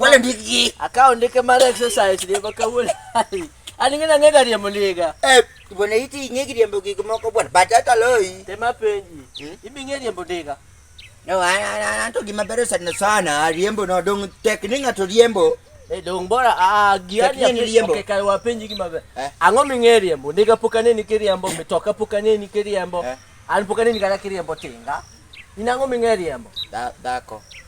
Wale ndiki. Akao ndike mara exercise leba kawule. Ani ngina ngega ria muliga. Eh, bona iti ngegi ria mbogi kumoko bona. Batata loi. Tema penji. Hmm? Ibi ngeri mbogiga. No, ana anto gima bere sana sana. Riembo no dong tek ninga to riembo. Eh, dong bora a ah, giani ya riembo. Okay, kai wapenji gima bere. Eh? Ango mingeri riembo. Ndika pukane ni kiriambo, mitoka pukane ni kiriambo. Eh? An pukane ni kana kiriambo tinga. Inango mingeri riembo. Da, dako.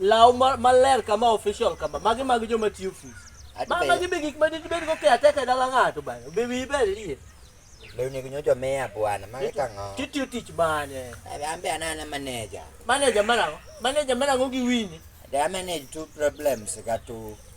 Law ma- maler kama official kama. Magi mag joma tiyo ofis. Ati Ma be- magi be gik ma dibed go kea teka e dala ng'ato bana. Be wiyi ber liye. Lewni ginyojo miya bwana, magi kang'o? Titiyo tich mane? Abi ambe anana manager. Manager marang'o? Manager marang'o gi wini? They manage two problems ka two.